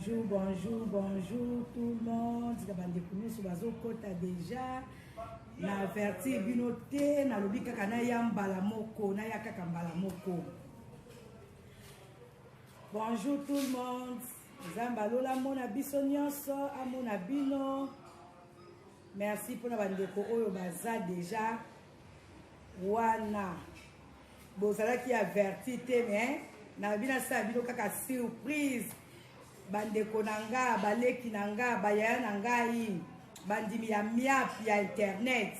bonjour bonjour bonjour tout le monde na bandeko nyonso bazokɔta déjà na avertir bino te nalobi kaka naya mbala moko naya kaka mbala moko Bonjour tout le monde. Nzambe alola amona biso nyonso, amona bino. Merci mpona bandeko oyo baza deja wana bozalaki averti te mais na bino asala bino kaka surprise bandeko na nga baleki na nga bayaya na ngai bandimi ya miap ya internet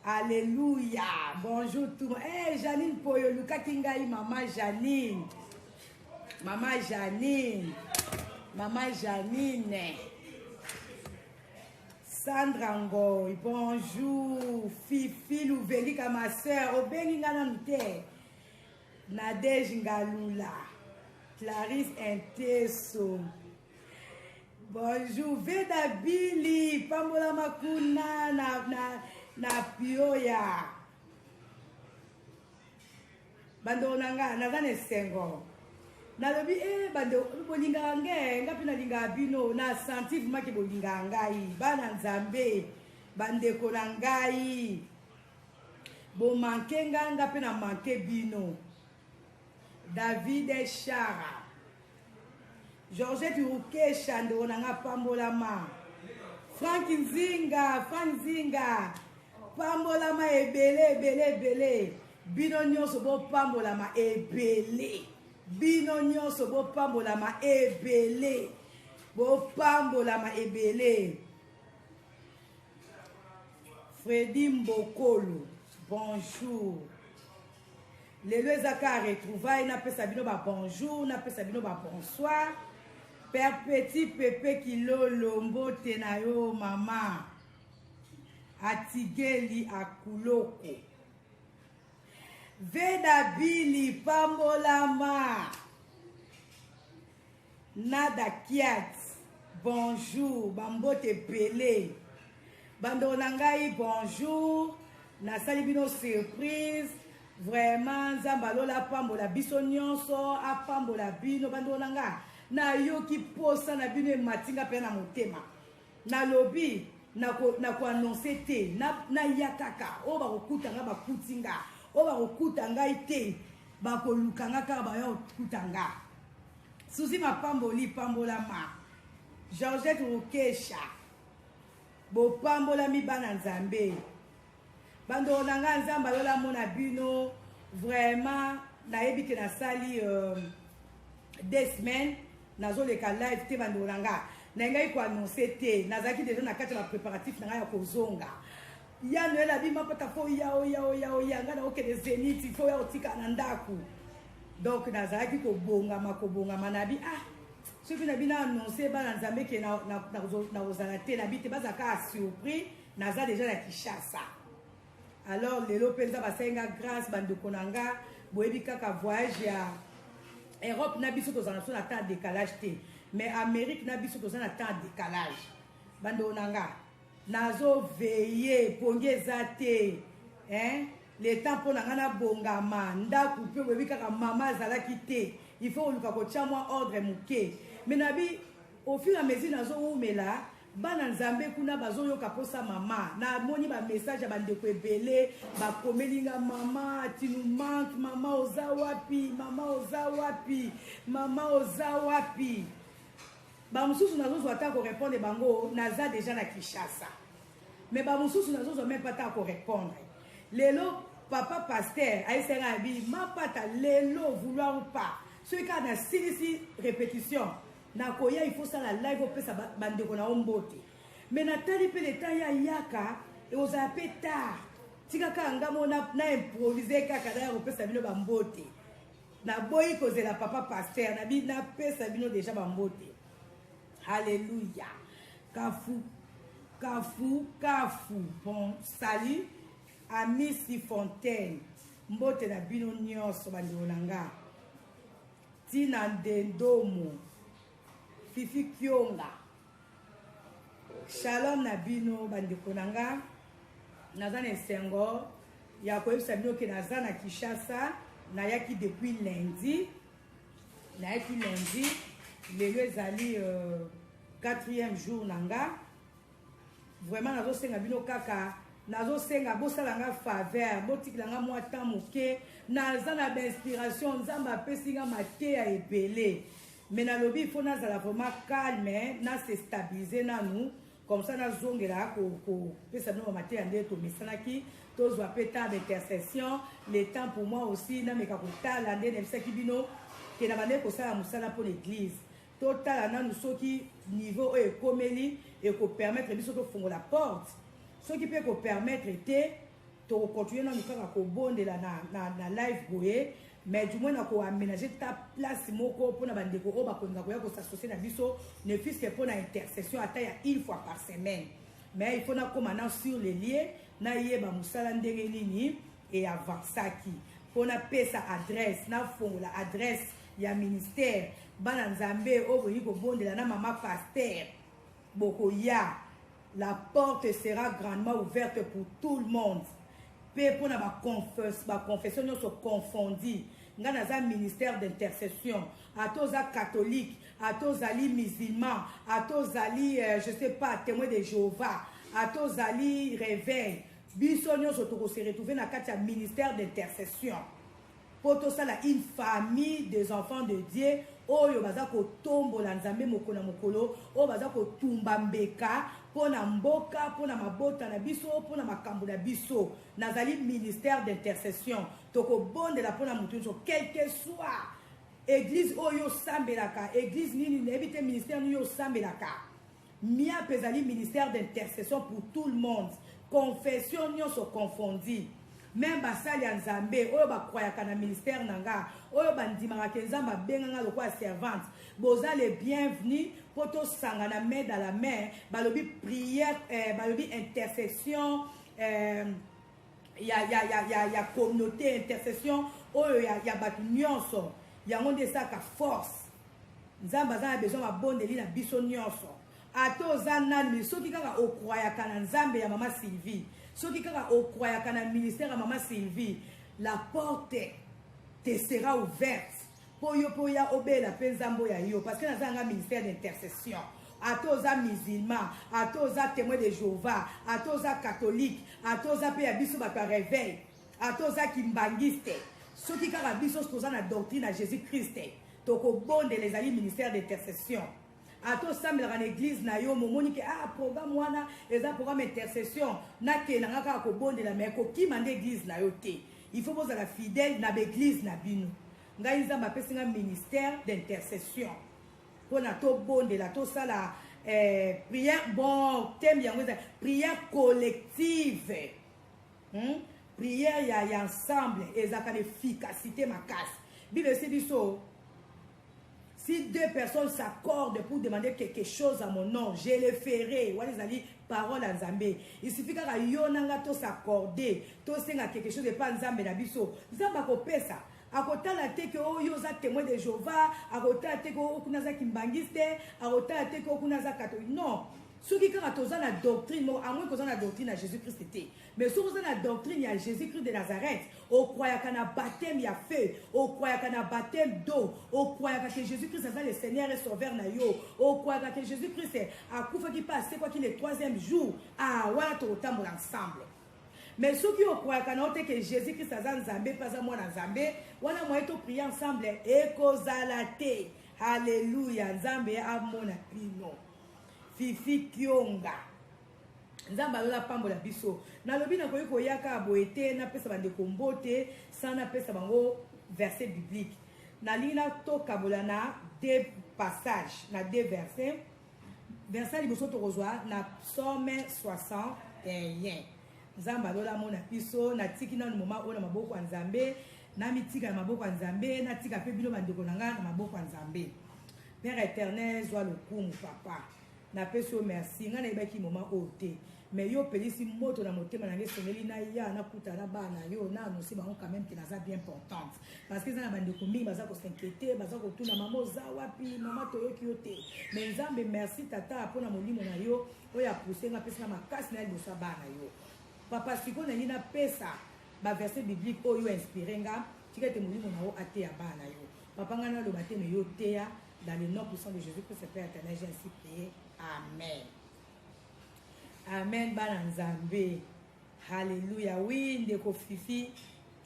Alleluia. Bonjour tout. Eh hey, Janine Poyo lukaki ngai maman Janine. Maman Janine. Maman Janine. Sandra Ngoy, bonjour. Fifi Louvelika, ma soeur. Obengi nga nanu te. Nadège Ngalula. Clarisse Inteso. Bonjour Veda Billy, pambola makuna na na na pioya. Bando na nga naza na esengo. Nalobi eh bando bolingaka nge nga mpe nalingaka bino na senti vrima ke bolingaka ngai bana nzambe bandeko na ngai bomanke nga nga mpe na manke bino David Shara Georgette Rukesha ndeko na nga pambolama Frank Nzinga Frank Nzinga pambolama ebele ebele ebele bino nyonso bopambolama ebele bino nyonso bopambolama ebele bopambolama ebele Freddy Mbokolo bonjour Lelo eza ka retrouvaille na pesa bino ba bonjour na pesa bino ba bonsoir. Père Petit Pepe Kilolo mbote na yo mama. Atigeli akuloko. Veda Bili pambolama. Nada Kiat, bonjour, bambote ebele. Bandeko na ngai, bonjour. Nasali bino surprise. Vraiment, Nzambe alola apambola biso nyonso, apambola bino bandeko na ngai. Nayoki posa na bino ematinga mpe na motema. Nalobi nako nako annoncer te na na ya kaka oyo bakokuta nga bakuti nga oyo bakokuta ngai te bakoluka nga kaka baya kokuta nga suzi mapamboli pambolama georgette rokesha bopambolami bana nzambe Bandoo na nga nzambe alola mona bino vraiment nayebi ke nasali euh, deux semaines nazoleka live te bandoo na nga nayengaki koannonce te nazalaki deja na kati ya bapréparatif na ngai ya kozonga ya noel abima mpata fo oya oya oya oya ngai nakokende zenit fo oya kotika na ndako donc nazalaki kobongama kobongama nabi ah soki nabi na annonce bana nzambe ke nakozala te nabi te bazala kaka surpris naza deja na kishasa alors lelo mpenza basali nga grâce bandeko na nga boyebi kaka voyage ya europe na biso tozala biso na temps ya décalage te mais amérique na biso toza na temps ya décalage bandeko na nga nazoveye pongi eza te hein? le temps mpo na ngai nabongama ndako mpe boyebi kaka mama azalaki te il faut koluka kotya mwa ordre moke mais nabi au fur et à mesure nazowumela Bana nzambe kuna bazo yoka posa mama na moni ba message ya bandeko ebele bakomeli nga mama tu nous manque mama oza wapi mama oza wapi mama oza wapi bamosusu nazozwa ata korepondre bango naza deja na kinshasa me bamosusu nazozwa meme pata korepondre lelo papa paster ayesaka ya bi mapata lelo vouloir ou pas soki kaka nasilisi répétition Nakoya il faut sala live opesa bandeko na yo mbote. Mais natali mpe leta ya yaka ekozala mpe tard. Tika kaka nga mo na, na improvise kaka na ya kopesa bino bambote. Naboyi kozela papa pasteur na bi napesa bino deja bambote. Hallelujah. Kafu kafu kafu. Bon, salut. Amisi Fontaine. Mbote na bino nyonso bandeko na nga. Tina Ndendomo, Fifi Kionga. Shalom na bino bandeko na nga. Naza na esengo ya koyebisa bino ke naza na Kinshasa, nayaki depuis lundi. Nayaki lundi, lelo ezali euh, quatrième jour na nga. Vraiment nazosenga bino kaka nazosenga bosala nga faveur botikela nga mwa temps moke naza na bainspiration nzambe apesi nga mateya ebele me nalobi ifo nazala vraiment calme na se stabilise nanu comme ça nazongela kopesa bino bamateya nde tomesanaki tozwa mpe temps d'intercession le temps pour moi aussi nameka kotala nde nayebisaki bino ke na bandeki kosala mosala mpo na église Totala nanu soki niveau oyo ekomeli eko permettre biso tofongola porte. Soki pe eko permettre te, toko continuer nanu kaka kobondela na, na, na live boye mais du moins na ko aménager ta place moko pona ba ndeko oyo bakolinga koya ko s'associer na biso ne fût-ce que pona intercession ata ya une fois par semaine mais il faut nakoma na sur les lieux nayeba mosala ndenge nini e avansaki mpo napesa adresse nafongola adresse ya ministère bana nzambe oyo bolingi kobondela na mama paster bokoya la porte sera grandement ouverte pour tout le monde mpe mpo na baconfession nyonso confondi ngai naza ministère d'intercession ata oza catholique ata ozali musulman ata ozali euh, je sais pas témoin de jéhovah ata ozali réveil Biso nionso toko se retrouver na kati ya ministère d'intercession mpo tosala une famille des enfants de Dieu oyo baza kotombola Nzambe mokolo na mokolo, oyo baza kotumba mbeka mpo na mboka, mpo na mabota na biso, mpo na makambo na biso. Nazali ministère d'intercession. Tokobondela mpo na moto nyonso quelque soit eglise oyo osambelaka, eglise nini nayebi te, ministère nini osambelaka Miap ezali ministère d'intercession pour tout le monde, confession nionso confondue. Meme basali ya Nzambe oyo bakwayaka na ministère na nga, oyo bandimaka ke Nzambe abenga nga lokola servante, boza le bienvenu po tosangana main dans la main, balobi prière, eh, balobi intercession, eh, ya, ya, ya, ya, ya communauté intercession oyo ya, ya bato nyonso yango nde esalaka force nzambe aza na besoin mabondeli na biso nyonso ata oza nani soki kaka okwayaka na nzambe ya mama sylvie soki kaka okwayaka na ministère ya mama sylvie la porte te sera ouverte Po yo pe oya obela pe nzambe oyo ya yo parce que naza nanga ministère d'intercession ata oza musulman ata oza témoin de jehovah ata oza catholique ata oza pe ya biso bato ya reveil ata oza kimbangiste soki kaka biso toza na doctrine ya jésus christ tokobondela ezali ministère d'intercession ata osambelaka na eglise na yo momoni ke ah programme wana eza programme intercession nakenda nga kaka kobondela mai kokima nde eglise na yo te il faut bozala fidèle na baeglise na bino ngai nzambe apesi nga ministère d'intercession mpona tobondela tosala eh, prière bon teme yango eza prière collective hmm? prière ya, ya ensemble ezalaka na efficacité makasi bible esi biso si deux personnes s'accordent pour demander quelque chose à mon nom je le ferai wana ezali parole ya nzambe isufi kaka yo na nga tos'accorde tosenga quelque chose epa nzambe na biso nzambe akopesa akotala te ke oyo oh, oza témoin de jehova akotala te ke oyo oh, kuna aza kimbangiste akotala te ke oyo oh, kuna aza catholique non soki kaka toza na doctrine moko amoi koza na doctrine ya jésus christ te Mais soki oza na doctrine ya Jesus Christ de Nazareth, okroyaka na baptême ya feu, okroyaka na baptême d'eau, okroyaka que Jesus Christ aza le Seigneur et Sauveur na yo, okroyaka que Jesus Christ akufaki mpe asekwaki le troisième jour, ah wana tokotambola ensemble. Mais soki okroyaka na yo te que Jesus Christ aza Nzambe mpe aza mwana Nzambe, wana moye toprie ensemble ekozala te. Haleluya, Nzambe amona bino. Fifi Kionga. Nzambe alola apambola biso. Nalobi nakoki koya kaka boye te napesa bandeko mbote sans napesa bango verset biblique. Nalingi natokabola na deux passages, na deux versets. Verset liboso tokozwa na psaume 61. Nzambe alola amona biso, natiki nanu moma oyo na maboko ya Nzambe, namitika na maboko ya Nzambe, natika mpe bino bandeko na ngai na maboko ya Nzambe. Père éternel, zwa lokumu papa. Na pesi yo merci. Nga na yebaki moment oyo te. Mais yo pelisi moto na motema na nge sengeli na ya na kuta na bana yo na annoncer bango quand même que naza bien importante. Parce que eza na bande ko mingi baza ko s'inquiéter, baza ko tuna mama oza wapi, mama toyoki yo te. Mais Nzambe merci tata pona molimo na yo oyo a pousser nga pesa makasi na libosa bana yo. Papa siko na ngi na pesa ba verset biblique oyo inspiré nga tika ete molimo na yo ateya bana yo papa ngai naloba te me yo teya Dans le nom puissant de Jésus-Christ, Père éternel, j'ai ainsi prié. Amen. Amen, bana Nzambe. Alléluia. Oui, ndeko Fifi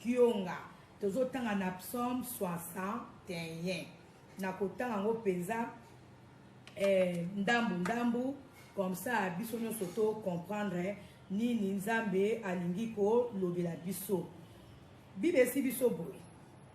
Kionga. tozotanga na psaume 61 nakotanga yango mpenza eh, ndambu ndambu comme ça biso nyonso to comprendre nini nzambe alingi kolobela biso bibesi biso boye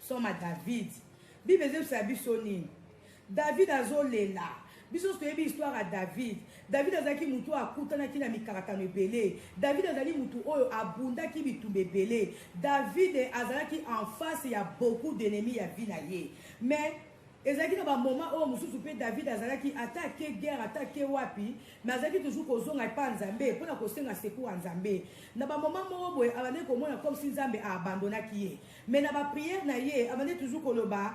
Soma David. Bible ezebisa biso nini? David azolela. biso nyonso toyebi histoire ya david david azalaki motu oyo akutanaki na mikakatano ebele david azali motu oyo abundaki bitumba ebele david azalaki en face ya beaucoup d'ennemi ya vi na ye mais ezalaki na bamoma oyo mosusu mpe david azalaki ata ake guerre ata ake wapi me azalaki toujours kozonga epa nzambe mpo na kosenga secour ya nzambe na bamoma moko boye abandaki komona comme si nzambe aabandonaki ye Mais na ba prière na ye abandi toujours koloba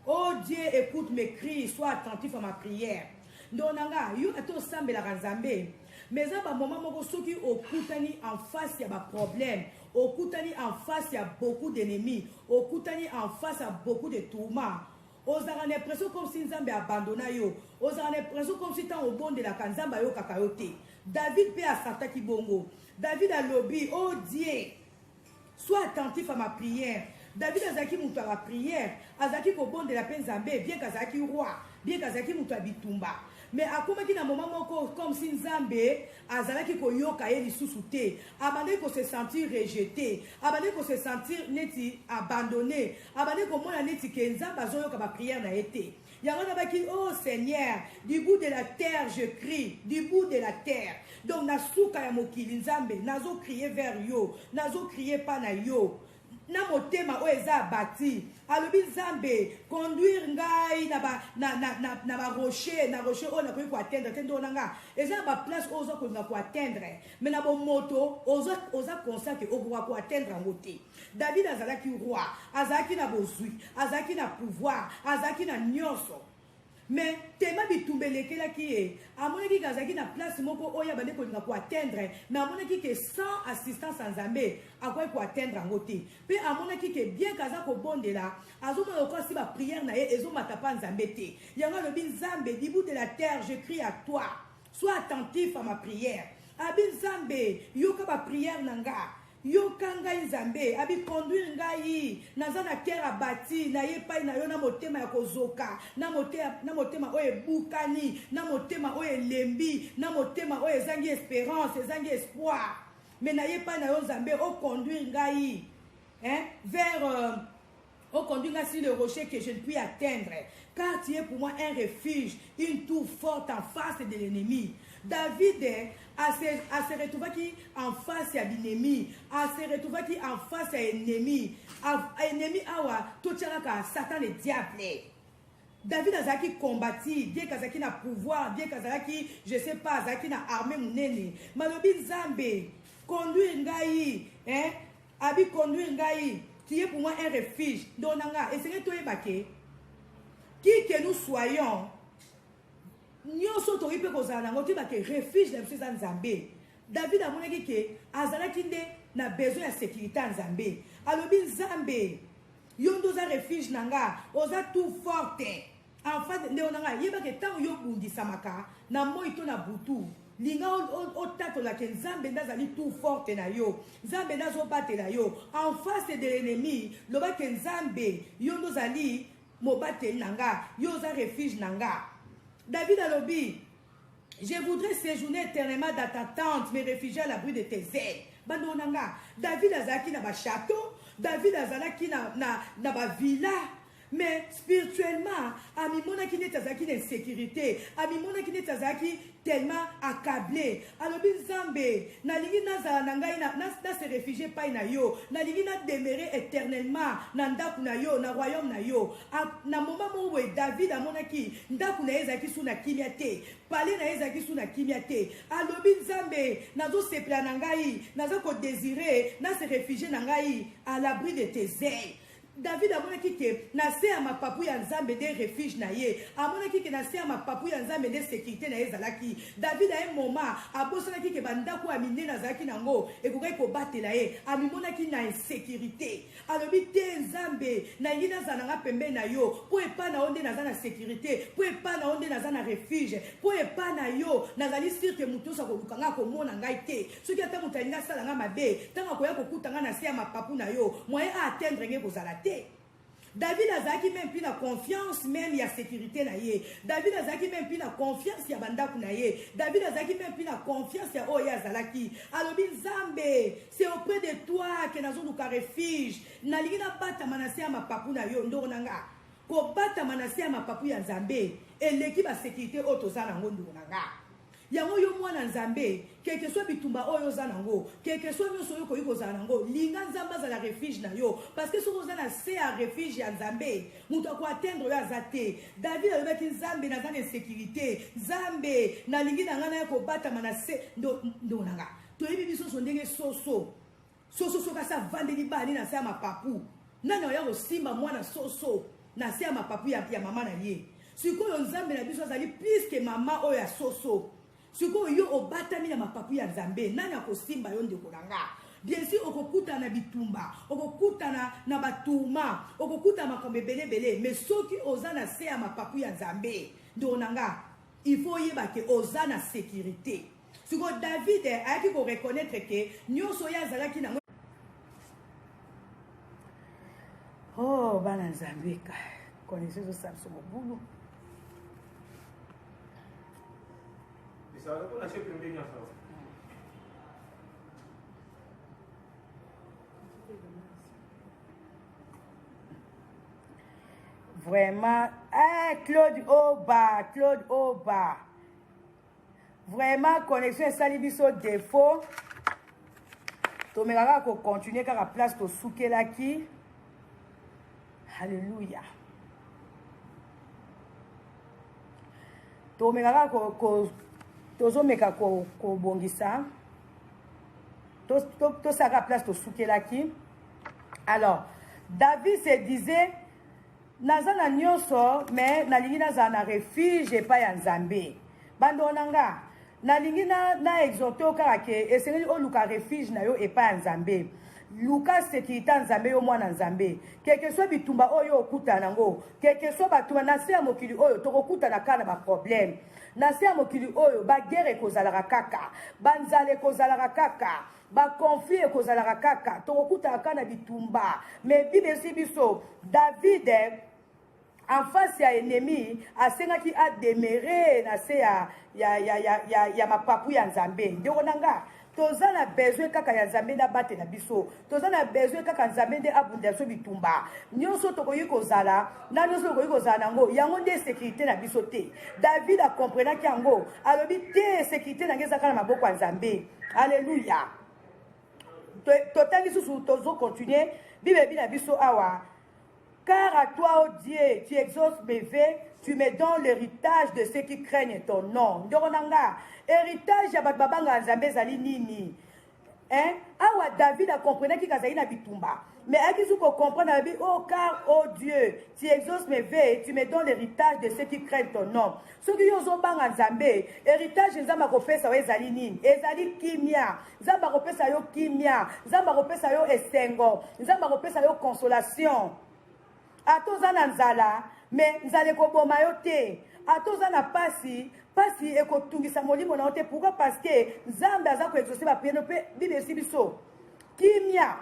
oh Dieu écoute mes cris sois attentif à ma prière ndoo na nga yo ata osambelaka nzambe mais eza bamoma moko soki okutani en face ya baproblème okutani en face ya beaucoup d'ennemis okutani en face ya beaucoup de tourment ozalaka na impression comme si nzambe abandona yo ozalaka na impression comme si ntango obondelaka nzambe ayokaka yo te david mpe asartaki bongo david alobi o oh die Sois attentif à ma prière. David azalaki moto ya baprière, azalaki kobondela mpe Nzambe, bien que azalaki roi, bien que azalaki moto ya bitumba. Mais akomaki na moment moko comme si Nzambe azalaki koyoka ye lisusu te. Abandaki ko se sentir rejeté, abandaki ko se sentir neti abandonné, abandaki komona neti ke Nzambe azoyoka ba prière na ye te. yango nabaki oh seigneur du bout de la terre je crie du bout de la terre donc na suka ya mokili nzambe nazo crie vers yo nazo crie pa na yo na motema oyo eza abati alobi nzambe conduire ngai na barocher na, na, na, na, ba rocher, na rocher oyo nakoki koatteindre te ndoo na ngai eza na baplace oyo oza kolinga koatteindre mai na bomoto oza, oza conscient ke okoka koatteindre yango te David azalaki roi, azalaki na bozwi, azalaki na pouvoir, azalaki na nyonso. Mais tema bitumba elekelaki ye amonaki ke azalaki na place moko oyo abandi kolinga koatteindre mais amonaki ke sans assistance ya nzambe akoki koatteindre yango te mpe amonaki ke bien ke aza kobondela azomona lokola si bapriere na ye ezomata mpa nzambe te yango alobi nzambe dibut de la terre je crie à toi Sois attentif à ma prière. Abi Nzambe, yoka ba prière na nga. Yoka ngai Nzambe, abi conduire ngai. Naza na cœur abati, na ye pai na yo na motema ya kozoka, na motema na motema oyo ebukani, na motema oyo elembi, na motema oyo ezangi esperance, ezangi espoir. Mais na ye pai na yo Nzambe, o conduire ngai hein, vers euh, On conduit nga sur le rocher que je ne puis atteindre, car tu es pour moi un refuge, une tour forte en face de l'ennemi. David ase retrouvaki en face ya binemi, ase retrouvaki en face ya ennemi. Ennemi awa totyalaka Satan le diable. David azalaki combati, bien kazalaki na pouvoir, bien kazalaki, je sais pas, azalaki na armée monene. Malobi Nzambe, conduire ngai, hein, Abi conduire ngai qui est pour moi un refuge ndeko na nga esengeli toyeba ke qui que nous soyons nyonso tokoki mpe kozala nango toyeba ke refuge na biso eza nzambe david amonaki ke azalaki nde na besoin ya sécurité ya nzambe alobi nzambe yo nde oza refuge na nga oza tout forte En fait, ndeko na ngai, yeba ke tango yo bundisamaka na moi to na butu, linga otatola ke nzambe nde azali tout forte na yo nzambe nde azobatela yo en face de l'ennemi loba ke nzambe yo nde ozali mobateli na nga yo oza refuge na nga david alobi je voudrais séjourner éternellement dans ta tente me réfugier à l'abri de tes ailes bandeko na nga david azalaki na bachateau david azalaki na, na, na bavilla Mais spirituellement, amimonaki neti azalaki na insécurité, amimonaki neti azalaki tellement accablé. Alobi Nzambe, nalingi nazala na ngai na, na, na se réfugier pai na yo, nalingi na demeurer éternellement na ndako na yo, na royaume na yo. A, na moment moko boye David amonaki ndako na ye ezalaki su na kimia te, pale na ye ezalaki su na kimia te. Alobi Nzambe, nazosepela na ngai, naza ko désirer na se réfugier na ngai à l'abri de tes ailes. David amonaki ke na se ya mapapu ya Nzambe nde refuge na ye. Amonaki ke na se ya mapapu ya Nzambe nde securite na ye ezalaki. David a un moment abosanaki ke ba ndaku ya minene azalaki na yango ekokaki kobatela ye. Amimonaki na insecurite. Alobi, Te, Nzambe, nalingi nazala na nga pembeni na yo, po epa na yo nde naza na securite, po epa na yo nde naza na refuge, po epa na yo nazali sur ke mutu nionso akoluka nga akomona ngai te. soki ata moto alingi asala ngai mabe ntango akoya kokuta ngai na se ya mapapu na yo moyen a atteindre ngai ekozala te david azalaki meme mpe na confiance meme ya sécurité na ye david azalaki meme mpe na confiance ya bandako na ye david azalaki meme mpe na confiance ya oyo ye azalaki alobi nzambe se auprès de toi ke nazoluka refuge nalingi nabatama na se ya mapapu na yo ndoko na nga kobatama na se ya mapapu ya nzambe eleki basécurité oyo toza na yango ndoko na nga Yango yo mwana Nzambe, quelque soit bitumba oyo oza nango, quelque soit nionso oyo okoki kozala nango, linga Nzambe azala refuge na yo, parce que soki oza na se ya refuge ya Nzambe, moto ako atteindre yo aza te. David alobaki Nzambe naza na insecurite, Nzambe nalingi na nga naya kobatama na se ndo ndo na nga. Toyebi biso nso ndenge soso Soso soki asi avandeli bani na se ya mapapu nani akoya kosimba mwana soso na se ya mapapu ya, ya mama na ye sikoyo nzambe na biso azali plus ke mama oyo ya soso sikoyo yo obatami na mapapu ya nzambe nani akosimba yo ndeko na nga bien sûr okokutana na bitumba okokutana na batourma okokutana makambo ebele ebele mais soki oza na se ya mapapu ya nzambe ndeko na nga Il faut oyeba que oza na securite. Siko David ayaki ko reconnaître que nyoso ye azalaki na Oh bana Nzambe ka connaissez au Samson Mobulu. Et ça va pas la chef de l'Union Vraiment, eh, Claude Oba, Claude Oba. Vraiment, connexion esali biso défaut. tomekaka kocontinue kaka place tosukelaki halleluya tomekaka ko, ko, tozomeka kobongisa ko tosaka to, to place tosukelaki to Alors, David se disait, naza na nyonso mais nalingi nazala na refuge epai ya nzambe bandoo na nga nalingi na, na exhorte yo kaka ke esengeli oluka refuge na yo epai ya nzambe luka sekirite ya nzambe yo mwana nzambe kekesoi bitumba oyo okutana nango kekesoi batuma na se ya mokili oyo tokokutana kaka na baproblème na se ya mokili oyo bagere ekozalaka kaka banzala ekozalaka kaka Ba conflit ekozalaka kaka, tokokutaka kaka na bitumba. Mais Bible elosi biso David en face ya ennemi asengaki a demeurer na se ya ya ya ya ya, ya mapapu ya Nzambe. Ndeko na nga, toza na besoin kaka ya Nzambe nde abatela biso. Toza na besoin kaka Nzambe nde abundela biso bitumba. Nyonso tokoki kozala na nyonso tokoki kozala na yango, yango nde sécurité na biso te. David akomprenaki yango, alobi te sécurité na ngai ezaka na maboko ya Nzambe. alleluya totangi susu tozo continue bibebi na biso awa car à toi ô oh dieu tu exauces mes vœux tu me donnes l'héritage de ceux qui craignent ton nom ndoko na nga héritage ya bato babangaka nzambe ezali nini hein? awa david akomprenaki kazali na bitumba Mais Aki Zuko comprend la Bible, oh car, oh Dieu, tu exauces mes vœux, tu me donnes l'héritage de ceux qui craignent ton nom. Ce qui ont ont bang Nzambé, héritage Nzamba kopesa wa ezali nini? Ezali kimia. Nzamba kopesa yo kimia. Nzamba kopesa yo esengo. Nzamba kopesa yo consolation. ata oza na nzala me nzala ekoboma yo te ata oza na pasi pasi ekotungisa molimo na yo te pourkui parce que nzambe aza koexauce bapriere mpe bible esi biso kimia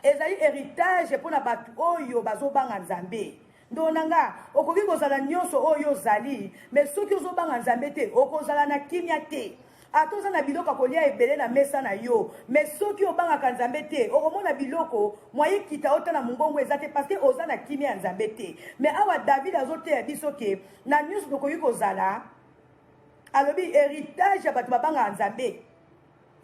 ezali héritage mpo na bato oyo bazobanga nzambe ndoo na nga okoki kozala nyonso oyo ozali me soki ozobanga nzambe te okozala na kimia te Ata oza na biloko ya kolia ebele na mesa na yo, me soki obangaka Nzambe te, okomona biloko mwa ekita ota na mongongo eza te, parce que oza na kimia ya Nzambe te. Me awa David azoteya biso ke na nyonso tokoki kozala, alobi heritage ya bato babangaka Nzambe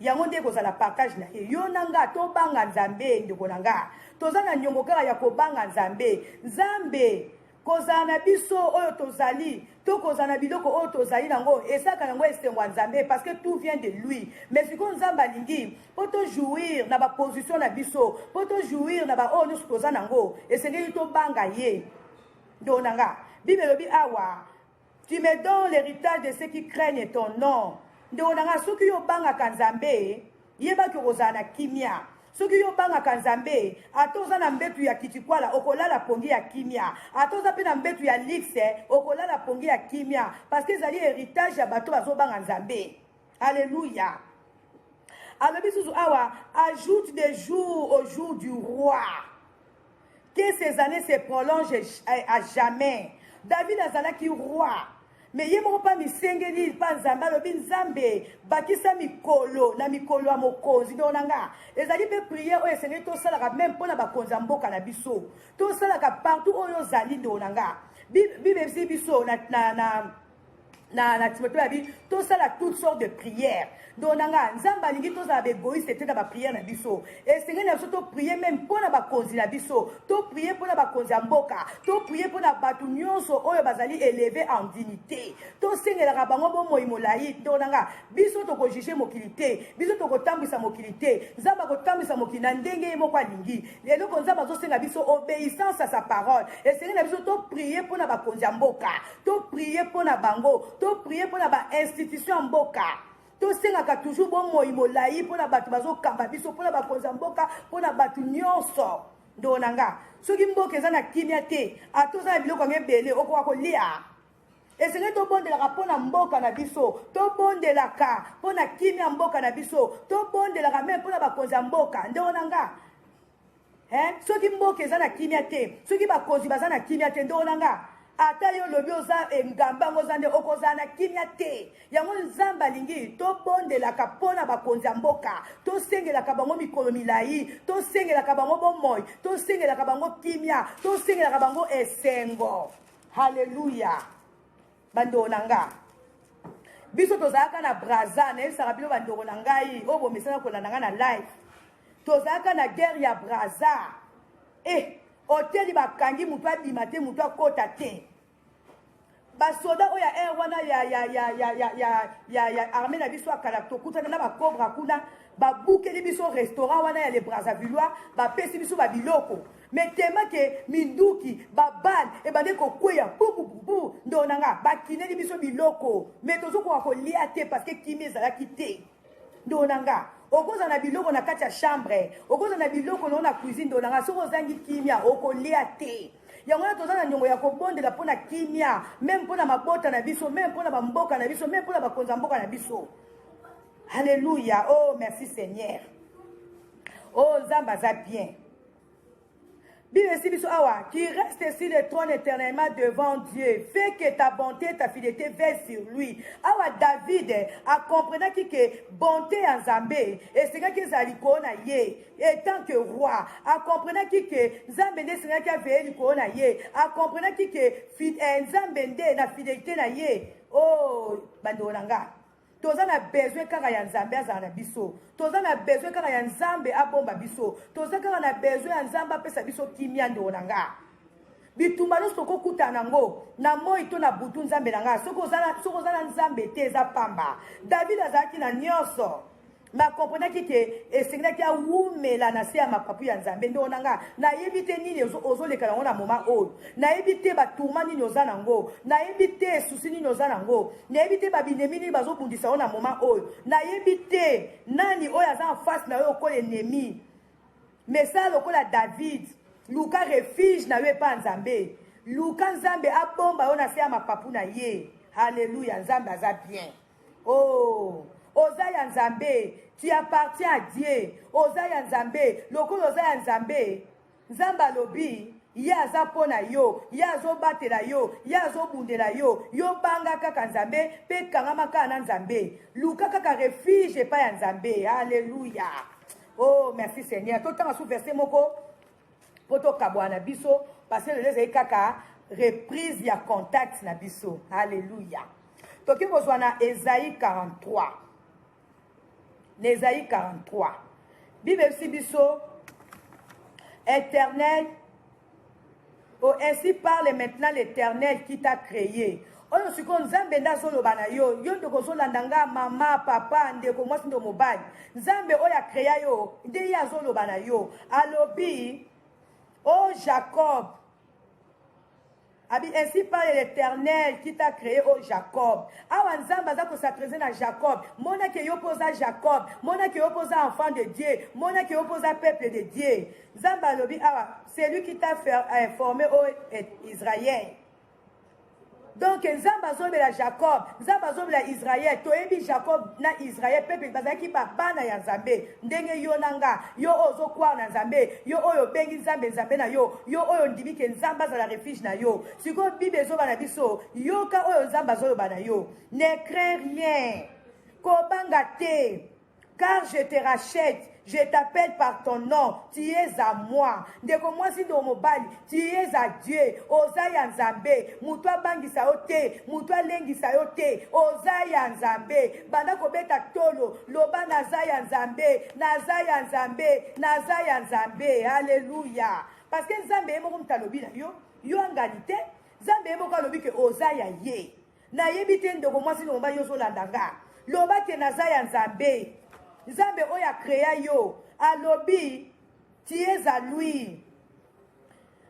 yango nde ekozala partage na ye yo na nga tobanga nzambe ndeko na nga toza na nyongo kaka ya kobanga nzambe nzambe Kozala na biso oyo tozali to kozala na biloko oyo tozali nango ezalaka nango esengo ya Nzambe parce que tout vient de lui. Mais sikoyo Nzambe alingi mpo to jouir na ba position na biso, mpo to jouir na ba oyo nyonso toza nango, esengeli tobanga ye. Ndeko na nga, Bible elobi awa Tu me donnes l'héritage de ceux qui craignent ton nom. Ndeko na nga soki yo obangaka Nzambe, yebaki okozala na kimia. soki yo obangaka nzambe ata oza na mbetu ya kitikwala okolala pongi ya kimia ata oza mpe na mbetu ya lixe okolala pongi ya kimia parceke ezali heritage ya bato bazobanga nzambe alleluya alobi susu awa ajoute de jour au jour du roi Que ces années se prolongent à jamais. David azalaki roi. Mais ye moko mpa misengeli mpa nzambe alobi nzambe bakisa mikolo na mikolo ya mokonzi ndoko na nga ezali mpe priere oyo esengeli tosalaka meme mpo na bakonzi ya mboka na biso tosalaka partout oyo ozali ndoko na nga bibebisi biso na, na, na na, na timote abi tosala toutes sortes de prières donc na nga nzambe alingi tozala baegoïste te na baprière na biso esengeli na biso toprie meme mpo na bakonzi na biso toprie mpo na bakonzi ya mboka toprie mpo na bato nyonso oyo bazali éleve en dignité tosengelaka bango bomoi molai donc na nga biso tokojuge mokili te biso tokotambwisa mokili te nzambe akotambwisa mokili na ndenge ye moko alingi eloko nzambe azosenga biso obéissance à sa parole esengeli na biso toprie mpo na bakonzi ya mboka To prier mpo na bango, to prier mpo na ba institution ya mboka. tosengaka toujours bomoi molai mpo na bato bazokamba biso mpo na bakonzi ya mboka mpo na bato nyonso ndoo na nga soki mboka eza na kimia te ata oza na biloko yango ebele okoka kolia esengeli tobondelaka mpo na mboka na biso tobondelaka mpo na kimia mboka na biso tobondelaka meme mpo na bakonzi ya mboka ndoo na nga eh, soki mboka eza na kimia te soki bakonzi baza na kimia te ndoo na nga ata yo olobi oza engamba yango oza nde okozala na kimia te yango nzambe alingi tobondelaka mpo na bakonzi ya mboka tosengelaka bango mikolo milai tosengelaka bango bomoi tosengelaka bango kimia tosengelaka bango esengo haleluya bandeko na nga biso tozalaka na braza nayebisaka bino bandeko na ngai oyo bomesana kolanda ngai na live tozalaka na guerre ya braza e eh, oteli bakangi moto abima te moto akota te basoda oyo ya aire wana ya, ya, ya, ya, ya, ya, ya, ya arme na biso ya kala tokutana na bakobra kuna Ba bukeli biso restaurant wana ya les Brazzavillois, ba pesi biso ba biloko. Mais tellement que minduki, ba balles ebandaki ko kweya bu bu bu bu ndeko na nga, ba kineli biso biloko. Mais tozo koka ko lia te parce que kimia ezalaki te. Ndeko na nga, okozala na biloko na kati ya chambre, okozala na biloko na yo na cuisine ndeko na nga, soki ozangi kimia okolia te. yango wana toza na niongo ya kobondela mpo na kimia meme mpo na mabota na biso meme mpo na bamboka na biso meme mpo na bakonzi ya mboka na biso Alléluia. Oh, merci Seigneur. Oh, Nzambe aza bien. Bible dit biso awa, qui reste sur le trône éternellement devant Dieu, fait que ta bonté, ta fidélité veille sur lui. Awa David a compris que bonté en Nzambe, et c'est que ezala likolo na ye, étant que roi, a compris que Nzambe nde sengaki aveille likolo na ye, a compris que eh, Nzambe nde na fidélité na ye. Oh, bandolanga. toza na besoin kaka ya nzambe azala na biso toza na besoin kaka ya nzambe abomba biso toza kaka na besoin ya nzambe apesa biso kimia ndeko na nga bitumba nyonso tokokuta nango na moi to na butu nzambe na nga soki oza na nzambe te eza pamba david azalaki na nyonso nga comprenaki ke esengelaki awumela na se ya mapapu ya nzambe ndeko na nga nayebi te nini ozoleka yango na moma oyo nayebi te batourma nini oza na yango nayebi te susi nini oza na yango nayebi te babinemi nini bazobundisa yo na moma oyo nayebi te nani oyo aza en face na yo okola enemi mesala lokola david luka refuge na yo epa ya nzambe luka nzambe abomba yo na se ya mapapu na ye haleluya nzambe aza bien Oh, oza ya Nzambe, tu appartiens à Dieu. Oza ya Nzambe, lokola oza ya Nzambe, Nzambe alobi ye aza mpo na yo, ye azobatela yo, ye azobundela yo. Yo banga kaka Nzambe mpe kangama kaka na Nzambe. Luka kaka refuge epai ya Nzambe. Aleluya. Oh, merci Seigneur. Totanga sous verset moko. po to kabuana biso parce que lelo ezali kaka reprise ya contact na biso alleluia toki kozwa na ezai 43 na ezai 43 bibebisi biso internet O ainsi parle maintenant l'Eternel qui t'a cree. Oyo sikoyo Nzambe nde azoloba na yo, yo ndeko ozolanda nga mama, papa, ndeko mwasi ndo mobali. Nzambe oyo akrea yo nde ye azoloba na yo. Alobi, o Jacob, abi ainsi parle l'Eternel qui t'a cree o Jacob. Awa Nzambe aza kosatreze na Jacob. Mona ke yo mpe oza Jacob. Mona ke yo mpe oza enfant de Dieu. Mona ke yo mpe oza peuple de Dieu. Nzambe alobi awa celui qui t'a eh, formé au eh, Israël donc nzambe azobela jacob nzambe azobela israel toyebi jacob na israel peuple bazalaki babana ya nzambe ndenge yo na nga yo oyo ozokwaa na nzambe yo oyo obengi nzambe nzambe na yo yo oyo ondimi ke nzambe azala refuge na yo sikoyo bible ezoba na biso yoka oyo nzambe azoloba na yo ne crain rien kobanga te car je te rachète je t'appelle par ton nom tu es à moi ndeko mwasi ndeko mobali tu es à dieu oza ya nzambe moto abangisa yo te moto alengisa yo te oza ya nzambe banda kobeta tolo loba naza ya nzambe naza ya nzambe naza ya nzambe aleluya parce que nzambe ye moko moto alobi na yo yo angani te nzambe ye moko alobi ke oza ya ye Nayebi te ndeko mwasi na mobali ozolanda nga. Loba ke naza ya Nzambe. Nzambe oyo akrea yo alobi tu es à lui.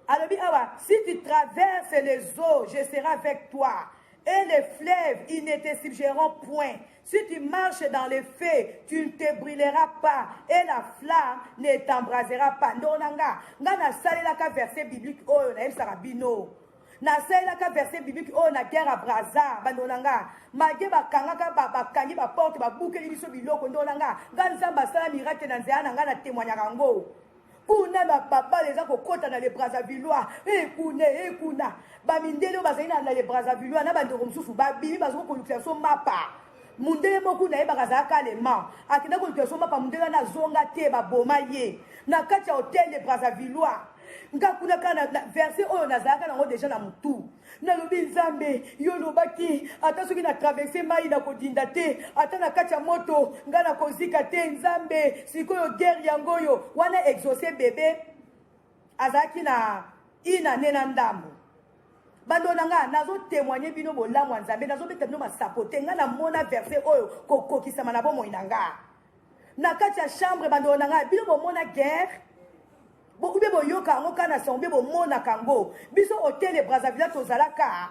Alobi awa si tu traverses les eaux, je serai avec toi. Et les fleuves, ils ne te subjugueront point. Si tu marches dans les feux, tu ne te brûleras pas et la flamme ne t'embrasera pas. Ndonanga, nga na salelaka verset biblique oyo na yebisaka bino. nasalelaka verset biblique oyo na guerre ya braza bandeko na nga malgre bakangaka bakangi baporte babukeli biso biloko ndeko na nga nga nzambe asala miracle na nzela na nga na témoignaka yango kuna na babale eza kokɔta na le brazavillois ekuna eh, ekuna eh, bamindele oyo bazali na le brazavillois na bandeko mosusu babimi bazoko kolukisa biso mapa mundele moko nayebaka azalaka allemand akenda kolukisa biso mapa mundele wana azonga te baboma ye na kati ya hotel de brazavillois nga kuna kaka na, na verse oyo nazalaka nango deja na motu nalobi nzambe yo olobaki ata soki na traverse mai nakodinda te ata na kati ya moto nga nakozika te nzambe sikoyo guerre yango oyo wana exauce bebe azalaki na ina ne na ndambo bando na ngai nazotemoigne bino bolamu ya nzambe nazobeta bino masapo te ngai namona verse oyo kokokisama na bomoi na ngai na kati ya chambre bando na ngai bino bomona guerre Bo ube boyoka yango kaka na sango mpe bomonaka yango. Biso otele Brazzaville tozalaka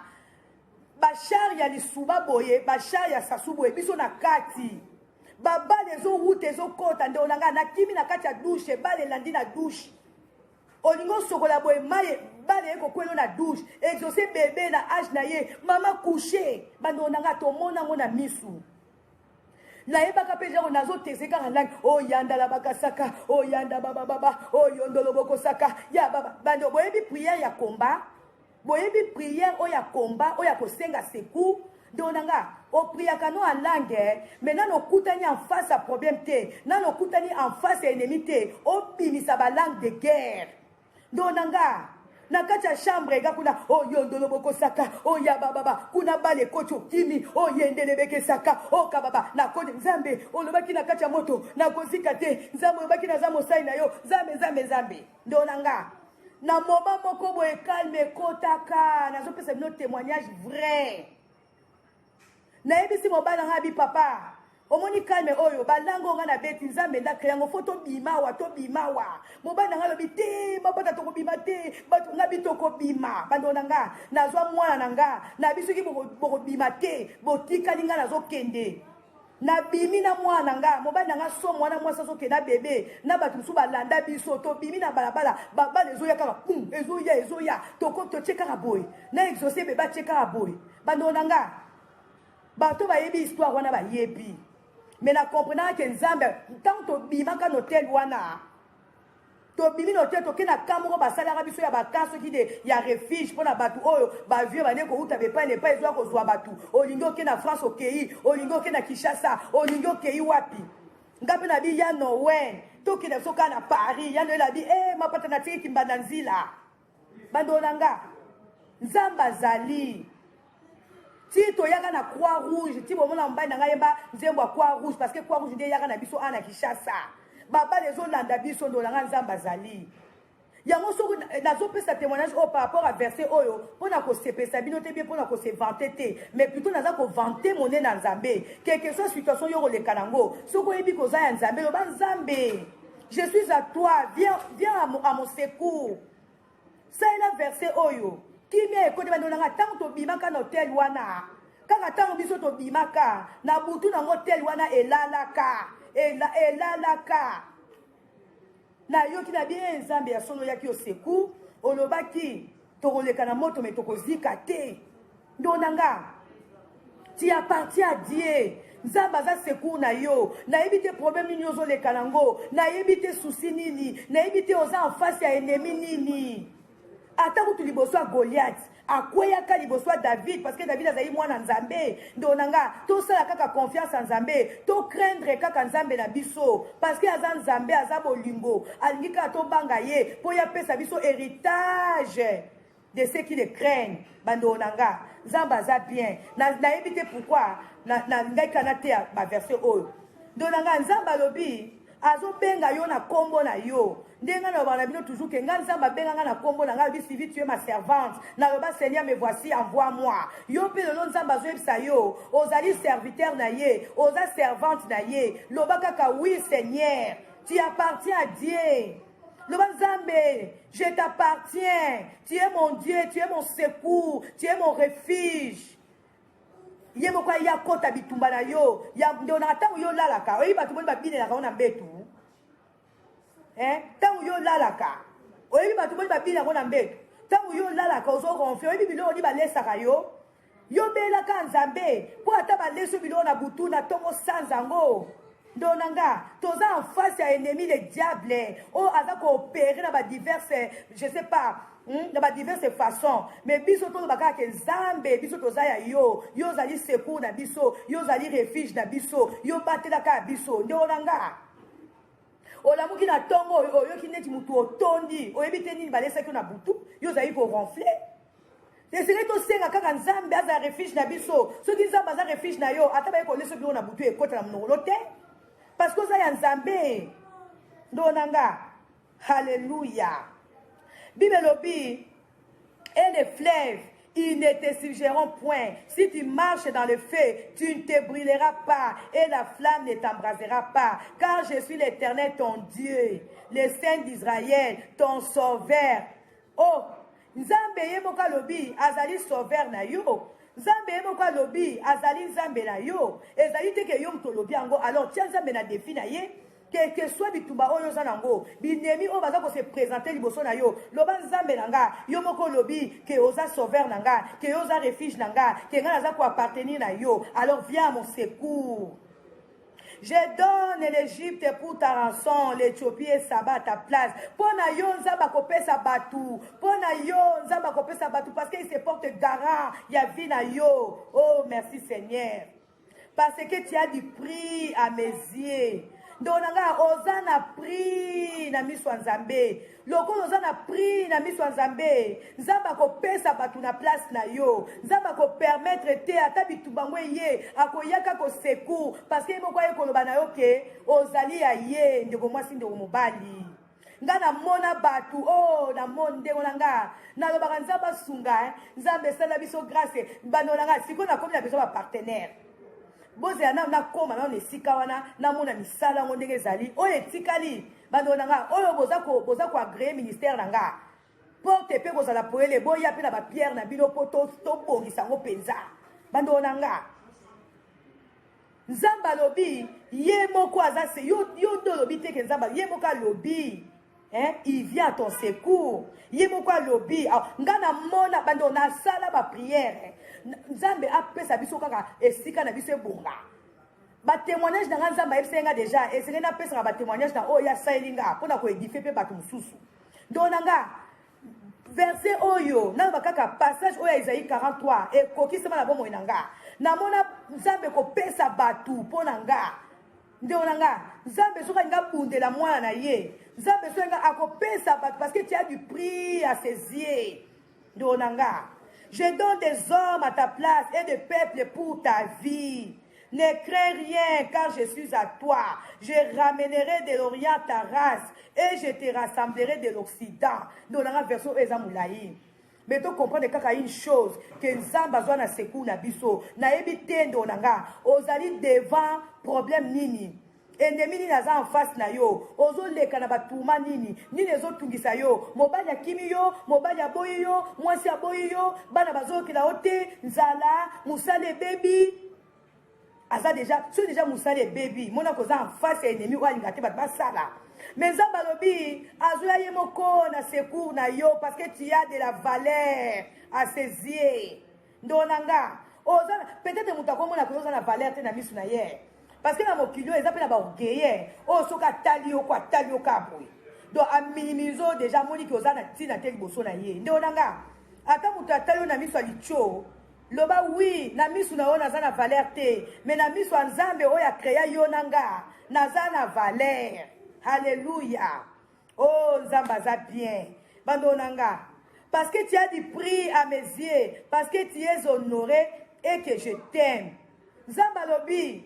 bashar ya lisuba boye bashar ya sasu boye biso na kati babale ezowuta ezokota ndeko na ngai nakimi na kati ya dushe bale elandi na dushe olingi osokola boye maye bale ekokwelo na dushe exauce bebe na age na ye mama couche bandeko na ngai tomona yango na misu nayebaka mpe genre nazoteseka na ndani oyanda la bakasaka oyanda babababa oyondolo bokosaka ya baba bando boyebi priere ya komba boyebi priere oyo ya komba oyo ya kosenga secour donc na nga opriaka no alange me nano okutani en face ya problème te nano okutani en face ya ennemi te obimisa balangue de guerre ndo na nga na kati ya chambre ega kuna oyo oh, ndolo bokosaka oyo oh, ya bababa kuna bale ekoti okimi oyo oh, yendele bekesaka oyo kababa nakoni nzambe olobaki na kati ya moto nakozika te nzambe olobaki naza mosali na yo nzambe nzambe nzambe ndo na nga na moma moko boye kalme ekotaka nazopesa bino témoignage vrai nayebisi mobali ngai abi papa omoni calme oyo balango nga na beti nzambe nda créango fo tobimawa tobimawa mobali na nga alobi te mabota tokobima te bato nga bi tokobima bandeko na nga nazwa mwana na nga na bisoki bokobima te botikali nga nazokende Na bimi na mwana na nga mobali na nga somo wana mwasi azo kenda bebe na bato mosusu balanda biso to bimi na balabala babala ezoya kaka pum ezoya ezoya toko totie kaka boye na exauce bebe atie kaka boye bandoo na nga bato bayebi histoire wana bayebi mais na comprenaka ke nzambe ntango tobimaka na hotel wana tobimi na hotel toke na ka moko basalaka biso ya baka soki de ya refuge mpo na bato oyo bavie bane kouta bepai na epai ezoya kozwa bato olingi oke na france okei olingi oke na kinshasa olingi okei wapi nga mpe na bi ya nowen tokende biso kaka na paris ya noel abi e eh, mapata natiki kimbanda nzila Bandeko na nga, Nzambe azali. Ti toyaka na Croix Rouge, ti bomona mobali na ngai yemba nzembo ya Croix Rouge parce que Croix Rouge nde eyaka na biso ana Kinshasa. Babale ezolanda biso ndeko na nga Nzambe azali. yango soki eh, nazopesa témoignage oyo par rapport à verset oyo mpo na kosepesa bino te bie mpo na kose vante te mais plutôt naza kovante monene ya nzambe quelque soit situation yo koleka nango soki oyebi koza ya nzambe loba nzambe je suis à toi viens, viens à, mon, à mon secours salela verset oyo kimia ekoti bando nanga ntango tobimaka na hotel wana kaka ntango biso tobimaka na butu nango hotel wana elalaka ela, elalaka nayoki na bie nzambe ya solo oyaki yo secours olobaki tokoleka na moto me tokozika te Ndo na nga. Tu appartiens à Dieu. nzambe aza secour na yo nayebi te problème nini ozoleka nango nayebi te souci nini nayebi te oza en face ya ennemi nini ata kutu liboso ya goliath akweyaka liboso ya david parce que david azali mwana nzambe ndo na nga tosala kaka confiance ya nzambe tocraindre kaka nzambe na biso parce que aza nzambe aza bolingo alingi kaka tobanga ye mpo ye apesa biso héritage de ce qui le craignent bandeko na nga nzambe aza bien nayebi na te pourquoi nalingaki kaka nateya baverse oyo ndeko na nga nzambe alobi azobenga yo na nkombo na yo ndenge ngai nalobaka na bino toujours ke ngai nzambe abenga ngai na nkombo na ngai alobi sivi tue ma servante naloba seigneur me voici envoi moi yo mpe lelo nzambe azoyebisa yo ozali serviteur na ye oza servante na ye loba kaka oui seigneur tu appartiens à dieu loba nzambe je t'appartiens tu es mon dieu tu es mon secours tu es mon refuge ye moko aye akota bitumba na yo ndonaka ntango yo olalaka oyebi bato boni babinelaka yo na mbetu ntango eh, yo olalaka oyebi bato boni babinelaka yo na mbetu ntango yo olalaka ozo ronfle oyebi biloko ni balesaka yo Yo bela ka Nzambe po ata ba leso biloko na butu na tongo sanza ngo. Ndo na nga toza en face ya ennemi le diable oyo oh, aza ko opérer na ba diverses je sais pas Hmm? na badiverse façon mais biso toloba kaka ke nzambe biso toza ya yo yo ozali secour na biso yo ozali refuge na biso yo batela kaka biso nde ona nga olamuki na ntongo oyo oyoki neti motu otondi oyebi te nini balesaki yo na butu yo ozali koronfle esengeli tosenga kaka nzambe aza refuge na biso soki nzambe aza refuge na yo ata baye kolesa bino na butu ekota na monokolo te parce que oza ya nzambe ndo na nga halleluya bible elobi et les fleuves ils ne te suggéreront point. Si tu marches dans le feu, tu ne te brûleras pas et la flamme ne t'embrasera pas. Car je suis l'Éternel, ton Dieu, le Saint d'Israël, ton Sauveur. Oh, Nzambe ye moko alobi azali sauveur na yo. Nzambe ye moko alobi azali Nzambe na yo. Ezali te ke yo moto olobi yango. Alors tia Nzambe na defi na ye. Que, que soit bitumba oyo oza nango, binemi oyo baza ko se presenter liboso na yo, loba Nzambe na nga, yo moko olobi ke oza sauveur na nga, ke yo oza refuge na nga, ke nga naza ko appartenir na yo. Alors viens à mon secours. Je donne l'Egypte pour ta rançon, l'Ethiopie et Saba à ta place. Mpo na yo Nzambe akopesa bato, mpo na yo Nzambe akopesa bato parce qu'il se porte garant ya vie na yo. Oh merci Seigneur. Parce que tu as du prix à mes yeux. ndeko na ngai oza na prix na miso ya nzambe lokola oza na prix na miso ya nzambe nzambe akopesa bato na place na yo nzambe akopermetre te ata bitumba yango eye akoyaka kosecour parce que ye moko aye koloba na yo ke ozali ya ye ndeko mwasi ndeko mobali nga namona bato o oh, namoni ndenge na nga nalobaka nzambe asunga eh. nzambe esala biso grace bando na nga sikoyo nakomi na besoin bapartenaire bozela nano nakoma nano na esika wana namona misala yango ndenge ezali oyo etikali Bandeko na nga oyo boza ko boza ko agreer ministère na nga porte mpe kozala poele boya mpe na bapierre na bino mpo tobongisa yango mpenza bandoo na nga nzambe alobi ye moko aza se yo, yo nde olobi te ke nzambe ye moko alobi hein, il vient à ton secours ye moko alobi ah, nga namona bando nasala bapriere nzambe apesa biso kaka esika na biso ebonga ba témoignage na nga nzambe ayebisaki nga deja esengeli napesaka ba témoignage na oyo asaleli nga mpo na koedifie mpe bato mosusu ndoo na nga verse oyo naloba kaka passage oyo ya ezai 43 ekokisama na bomoi na nga namona nzambe kopesa bato mpo na nga ndeko na nga nzambe soki alingi abundela mwana na ye nzambe soki alingi akopesa bato parce que tia du prix à ses yeux Ndeko na nga, je donne des hommes à ta place et des peuples pour ta vie. Ne crains rien, car je suis à toi. Je ramènerai de l'Orient ta race et je te rassemblerai de l'Occident. Donc, la version est Moulaï. Mais tu comprends kaka une chose que Nzamba a na sekou na biso. Na ebi tendo na nga. Ozali devant problème nini. Ennemi nini aza en face na yo? Ozo leka na ba tourments nini? Nini ezo tungisa yo? Mobali akimi yo, mobali aboyi yo, mwasi aboyi yo, bana bazo yokela yo te, nzala, musala ebebi. Aza deja, soki deja musala ebebi, mona koza en face ya ennemi oyo alinga te bato basala. Mais Nzambe alobi azoya ye moko na secours na yo parce que tu as de la valeur à ses yeux. Ndoo na nga, oza peut-être moto akomona koyo oza na valeur te na misu na ye. Parce que na mokili oyo eza pe na ba orgueilleux oyo soki atali yo ko atali yo ka boye. Donc a minimise yo déjà amoni ke oza na ntina te liboso na ye. Ndoo na nga, ata moto atali yo na misu ya litio, loba oui na misu na yo naza na valeur te, mais na misu ya Nzambe oyo a crea yo na nga, naza na valeur. Hallelujah. Oh, Nzambe aza bien. Bando na nga. Parce que tu as du prix à mes yeux, parce que tu es honoré et que je t'aime. Nzambe alobi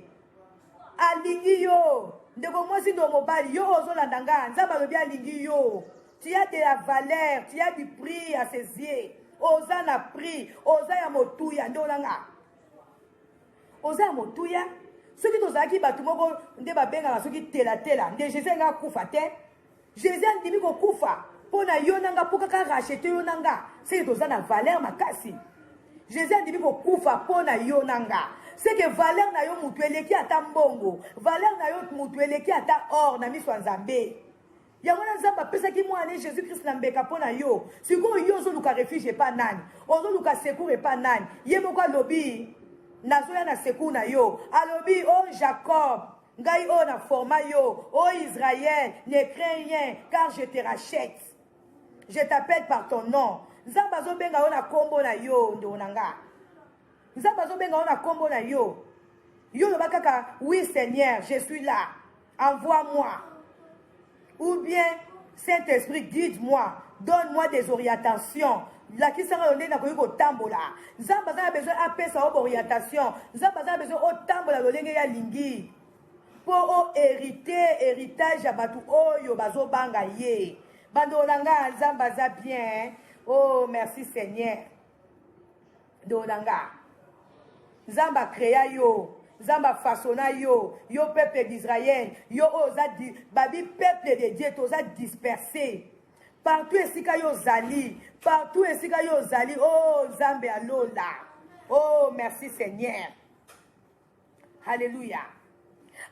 alingi yo. Ndeko mwasi ndo mobali yo ozolanda nga. Nzambe alobi alingi yo. Tu as de la valeur, tu as du prix à ses yeux. Oza na prix, oza ya motuya nde olanga. oza ya motuya soki tozalaki bato moko nde babengaka soki telatela nde jésus alinga akufa te jésus andimi kokufa mpo na yo na nga mpo kaka rachete yo na nga seke toza na valeur makasi jésus andimi kokufa mpo na yo na nga seke valeur na yo motu eleki ata mbongo valeur na yo motu eleki ata or na miso ya nzambe Yango wana Nzambe apesaki mwana ne Jesus Christ na mbeka mpo na yo. Sikoyo yo ozoluka refuge epa nani? Ozoluka secours epa nani? Ye moko alobi nazoya na secours na yo. Alobi o oh Jacob, ngai oyo na forma yo. O oh Israël, ne crains rien car je te rachète. Je t'appelle par ton nom. Nzambe azobenga yo na kombo na yo ndeko na nga. Nzambe azobenga yo na kombo na yo. Yo loba kaka oui Seigneur, je suis là. Envoie moi. Ou bien Saint-Esprit guide moi, donne moi des orientations. lakisaka yo ndenge nakoki kotambola nzambe aza na besoin apesa yo baorientation nzambe aza na besoin otambola lolenge ya lingi mpo oherite heritage ya bato oyo bazobanga ye bandolo na ngai nzambe aza bien oh merci seigneur ndeko na nga nzambe akrea yo nzambe afasona yo yo peuple d'israël yo oyo oza babi peuple de dieu toza disperse partout esika yo ozali partout esika yo ozali o oh, nzambe ya lola o oh, merci seigneur Haleluya.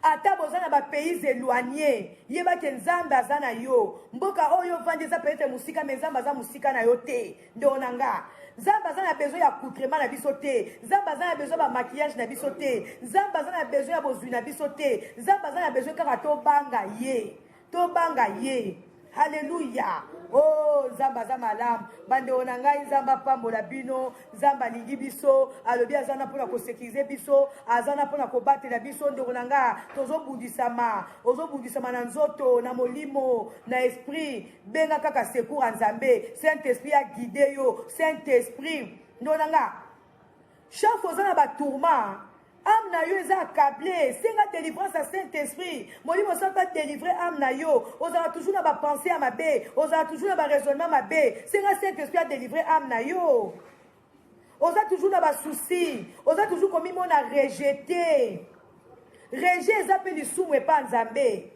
Ata boza na ba pays éloignés, yeba ke Nzambe aza na yo. Mboka oyo vandi eza peut-être musika mais Nzambe aza musika na yo te. Ndeko na nga. Nzambe aza na besoin ya accoutrement na biso te. Nzambe aza na besoin ba maquillage na biso te. Nzambe aza na besoin ya bozui na biso te. Nzambe aza na besoin kaka tobanga ye. tobanga ye haleluya o oh, nzambe aza malamu bandeko na ngai nzambe apambola bino nzambe alingi biso alobi aza na mpona kosekirize biso aza na mpona kobatela biso ndeko na ngai tozobundisama ozobundisama na nzoto na molimo na esprit benga kaka sekour ya nzambe saint esprit aguide yo saint esprit ndeko na ngai Chef oza na ba tourments. Âme na yo eza accable, senga délivrance ya Saint-Esprit. Molimo santo a délivrer âme na yo. Ozala toujours na ba pensées ya mabe, ozala toujours na ba raisonnement mabe. Senga Saint-Esprit a délivrer âme na yo. Oza toujours na ba soucis, oza toujours komimona rejeté. Rejet eza pe lisumu epa Nzambe.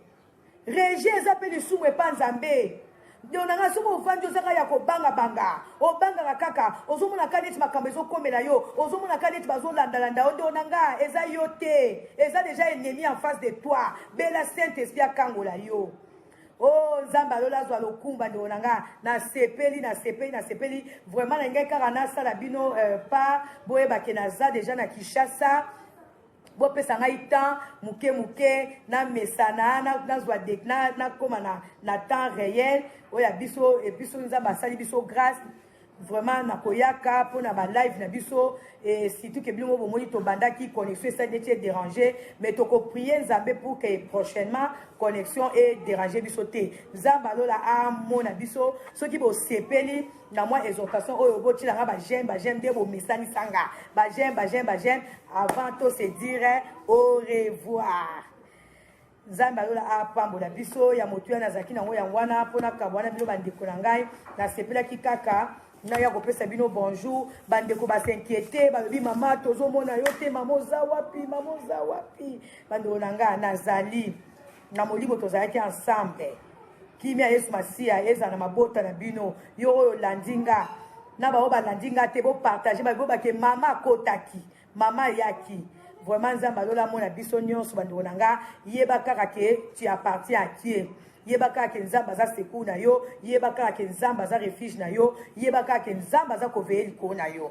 rejet eza mpe lisumu epa nzambe ndeko na ngai soki ovandi ozaka ya kobangabanga obangaka kaka ozomonaka neti makambo ezokomela yo ozomonaka neti bazolandalanda yo ndeko na ngai eza yo te eza deja ennemi en face de toi bela saint esprit akangola yo o oh, nzambe alola azwa lokumba ndeko na ngai nasepeli nasepeli nasepeli vraiment na ngai kaka nasala bino euh, pa boyebake naza deja na kinshasa bopesa ngai temps moke moke namesana nazwa nakoma na, na temps réel oyo ya biso e biso nzambe asali biso grâce vraiment nakoyaka mpo na balive na biso e, surtout ke bino bomoni tobandaki connexion esali neti edérange mais tokoprie nzambe pour ke prochainement connexion edérange biso te nzambe alola amona biso soki bosepeli na mwa exhortation oyo botyela nga bageme bageme nde bomesanisa nga bageme bageme bageme avant to se dire au revoir nzambe alola apambola biso ya motuya nazalaki nango yango wana mpo nakaba wana bino bandeko na ngai nasepelaki kaka naya kopesa bino bonjour bandeko basinquiete balobi mama tozomona yo te mama oza wapi mama oza wapi bandeko na ngai nazali na molimo tozalaki ensemble kimia yesu masiya ezala na mabota na bino yo oyo olandi nga na baoyo balandi nga te bopartage babi bobake mama akotaki mama ayaki vraiment nzambe alola mona biso nyonso bandeko na nga yeba kaka ke tu appartien à kie yeba kaka ke nzambe aza secour na yo yeba kaka ke nzambe aza refuge na yo yeba kaka ke nzambe aza koveye likolo na yo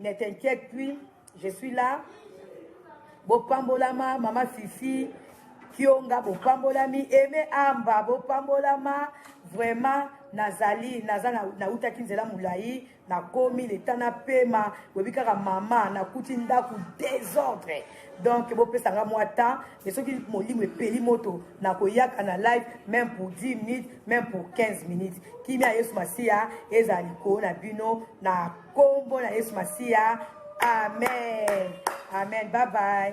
Ne t'inquiète plus, je suis là. Bopambolama, mama Fifi, Kionga, bopambolami, Aimé Amba, bopambolama, vraiment nazali naza nautaki nzela molai nakomi leta napema boyebi kaka mama nakuti ndako desordre donc bopesa nga mwa temps mais soki molimo epeli moto nakoyaka na live même pour 10 minutes même pour 15 minutes kimia yesu masiya ezala likolo na bino na Kombo na Yesu Masiya. Amen. Amen. Bye bye.